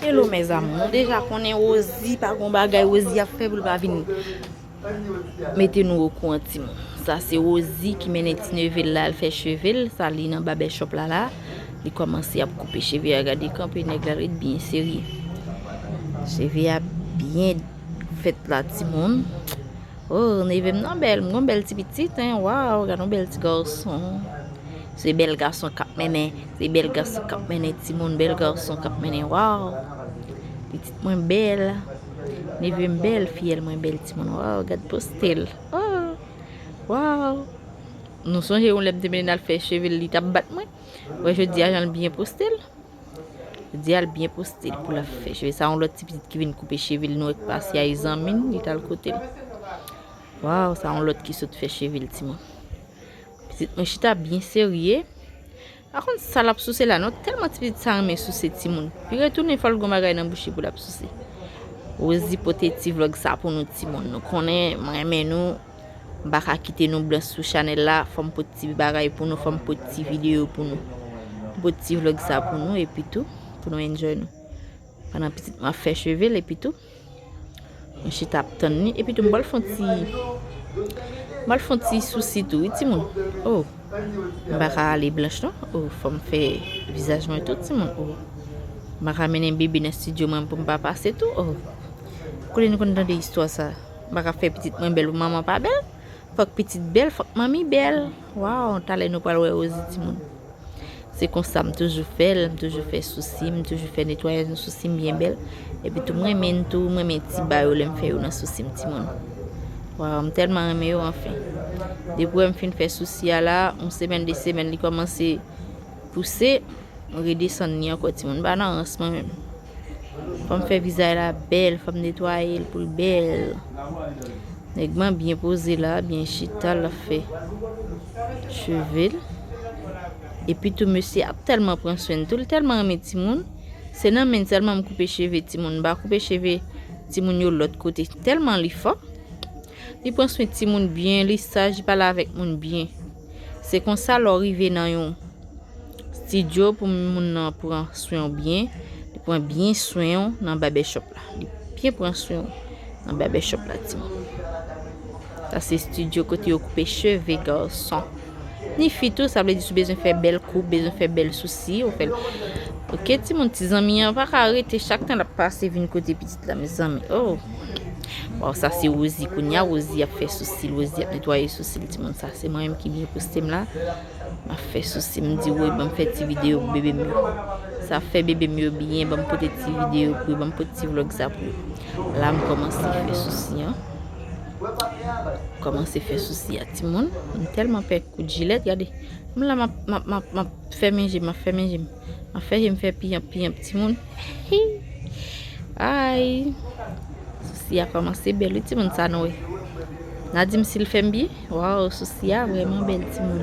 Hello mes amours nou deja konnen Rosie pa gon bagay Rosie ap fè pou l pa vin mete nou o kouran ti moun sa se Rosie ki mennen ti neve l la al fè cheve l sa li nan babè chòp la la li kòmanse ap koupe cheve a gade kanpe nèg la ret byen seri cheve a byen fèt la ti moun oh neve m nan bèl m gon bèl ti pitit waw gade yon bèl ti gason se bèl gason kap mennen Se bel gason kap mennen timoun bel gason kap mennen waw pitit mwen bel neve m bel fiyel mwen bel timoun waw gad postel oh waw nou sonje yon lem te mennen nal fè chevel li tap bat mwen wè jodi a janl byen postel jodi al byen postel pou la fè chevel sa yon lot ti pitit ki vin koupe chevel nou ek pase a yon zanmil li tal kotel waw sa yon lot ki sot fè chevel timoun. Pitit mwen chita byen serye. Pa konn sa lap souse la non tèlman ti pitit sa renmen souse timoun. Li retounen fòl gon bagay nan bouch li pou lap souse. Rosie pote ti vlog sa pou nou timoun nou konnen m renmen nou m paka kite nou blan sou chanèl la fòm pot ti bagay pou nou fòm pot ti video pou nou m pot ti vlog sa pou nou epitou pou nou enjoy nou pandan pitit mwen ap fè chevel epitou. Mwen chita ap tann li epitou m bal fon ti m bal fon ti sousi tou wi timoun oh m paka ale blanch non oh fòm fè vizaj mwen tou timoun oh m paka mennen bebe nan studio mwen pou m pa pase tou oh kote nou konn tande istwa sa m paka fè pitit mwen bèl pou manman pa bèl fòk pitit bèl fòk manmi bèl waw talè nou pral wè Rosie timoun. Se konsa m toujou fè l, m toujou fè sousi, m toujou fè netwayaj nan sousi m byen bèl. Epi tou m renmen n tou, m renmen ti ba yo lè m fè yo nan sousi m timoun. Waw m tèlman renmen yo anfen. Depi wè m fin fè sousi a la, yon semèn de semèn li kòmanse pouse, m redesann li ankò timoun. M pa nan rans mwen menm. Fòm fè vizay la bèl, fòm netwayel poul bèl. Nèg man byen poze la, byen chita la fè chevel. Epi tou mesye ap tèlman pran swen tou, li tèlman renmen timoun. Se nan men sèlman m koupe cheve timoun, m pa koupe cheve timoun yo lòt kote. Tèlman li fò. Li pran swen timoun byen, li saj, li pale avèk moun byen. Se konsa lè w rive nan yon stidyo pou moun nan pran swen w byen, li pran byen swen w nan babèchòp la. Li byen pran swen w nan babèchòp la timoun. Sa se stidyo kote yo koupe cheve gason. Ni fi tou, sa vle di sou bezwen fè bèl koup, bezwen fè bèl sousi, ou fè l. Ok timoun, ti zanmi an pa ka rete chak tan l ap pase vin kote pitit. la mezanmi ooh waw sa se Rosie kounya Rosie ap fè sousil Rosie ap netwaye sousil timoun sa se mwen menm ki byen postem la map fè sousi m di woy banm fè ti video pou bebe m yo sa ap fè bebe m yo byen banm pote ti video pou yo banm pote ti vlog sa pou yo la m komanse fè sousi an komanse fè sousi a timoun m telman pè kout jilèt gade m la map map map Fèmen je m map fèmen je m map fè je m fè piyanp piyanp timoun hii ayy sousi a kòmanse bèl wi timoun sa nou wè na di m si l fèm byen waw sousi a vrèman bèl timoun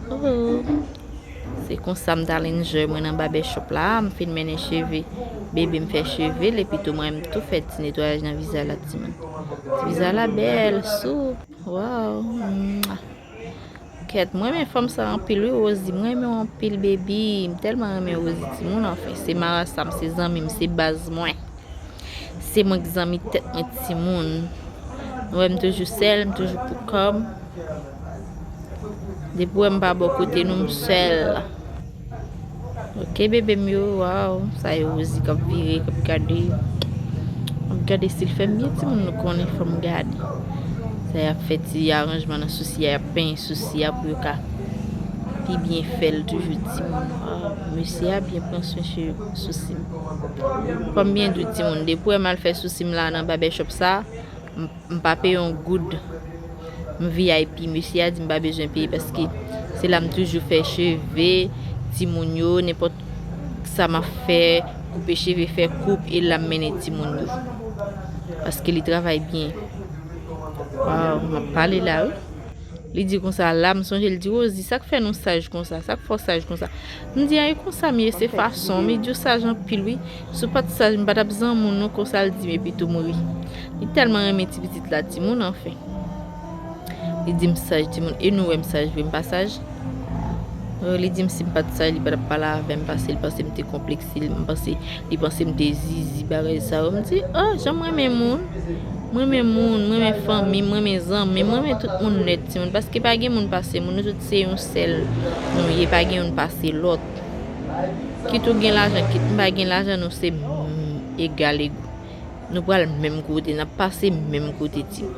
ooh se konsa m ta al enjoy mwen nan babèchòp la m fin mennen cheve bebe m fè cheve l epi tou m renmn tou fè ti netwayaj nan vizaj la timoun ti vizaj la bèl sou waw mwah. Kèt m renmen fanm sa anpil wi Rosie m renmen w anpil baby m tèlman renmen Rosie timoun anfen se marasa m se zanmi m se baz mwen se mwen k zanmi tèt mwen timoun nou wè m toujou sèl m toujou pou kò m depi w wè m pa bò kote nou m sèl. Ok bebe m yo waw sa yo rozi kap vire kap gade ap gade stil fèm byen ti moun nou konnen fòm gade sa yap fè ti aranjman nan sousi a yap peny sousi a pou yo ka pi byen fèl toujou ti moun waw mesye a byen pran swen sousi m fòm byen di w ti moun depi w wè m al fè sousi m la nan babè chòp sa. m pa peye yon goud m vip mesye a di m pa bezwen peye paske se la m toujou fè cheve timoun yo nenpòt sa m ap fè koupe cheve fè koup e la m mennen timoun yo paske li travay byen waw m ap pale la wi li di konsa la m sonje li di rozi sak fè nou saj konsa sak fè w saj konsa m di a e konsa m ye se fason m e di w saj anpil wi. Si w pat saj m pa tap zanmu non konsa l di m epi tou m ri Li tèlman renmen ti pitit la timoun anfen Li di m saj timoun e nou wè m saj vre m pa saj Oh li di m si m pat saj li pa tap pale avè m pase l panse m te konplekse li panse li panse m te zizi bagay sa yo m di oh jan m renmen moun m renmen moun m renmen fanmi m renmen zanmi m renmen tout moun nèt timoun paske pa gen moun pase moun nou tout se yon sèl nou ye pa gen youn pase lòt. Kit ou gen lajan kit m pa gen lajan nou se egal ego. Nou pral menm kote, n ap pase menm kote ti moun.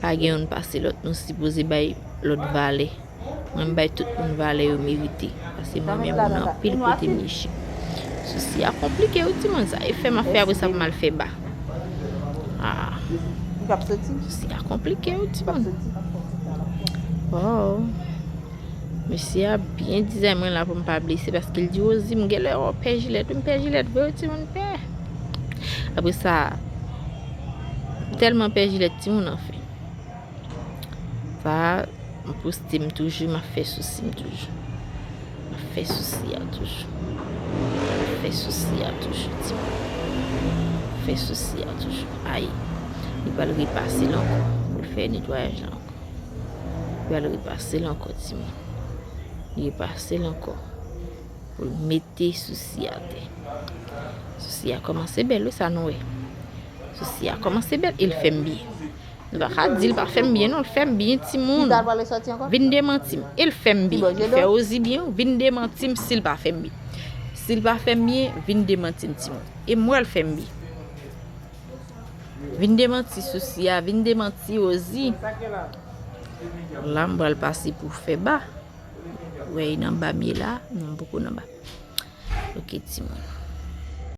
Pa gen youn pase lòt, nou sipoze bay lòt valè. Mwen m bay tout moun valè yo merite. Pase mwen menm moun anpil kote m ye. Sousi a konplike wi ti moun. Sa e fè m ap fè apre sa pou m al fè ba. Sousi a konplike wi ti moun. Mesye a byen dizay mwen la pou m pa blese paske l di Rosie m gen lè wè w pè jilèt wi m pè jilèt vre wi timoun pè apre sa m tèlman pè jilèt timoun anfen sa m poste m toujou m ap fè sousi m toujou m ap fè sousi a toujou m ap fè sousi a toujou timoun m ap fè sousi a toujou ayi li pral repase l ankò pou l fè netwayaj la ankò. Li pral repase l ankò timoun. Li repase l ankò pou l mete sousi a atè. Sousi a kòmanse bèl wi sa nou wè. Sousi a kòmanse bèl e l fèm byen. Nou pa ka di l pa fèm byen non. L fèm byen timoun. Vin demanti m. E l fèm byen. Li fè Rozi byen wi. Vin demanti m si l pa fèm byen. Si l pa fèm byen, vin demanti m timoun. E m wè l fèm byen. Vin demanti sousi a vin demanti Rozi la m pral pase pou fè ba wè e nan ba m ye la non m poko nan ba ok timoun.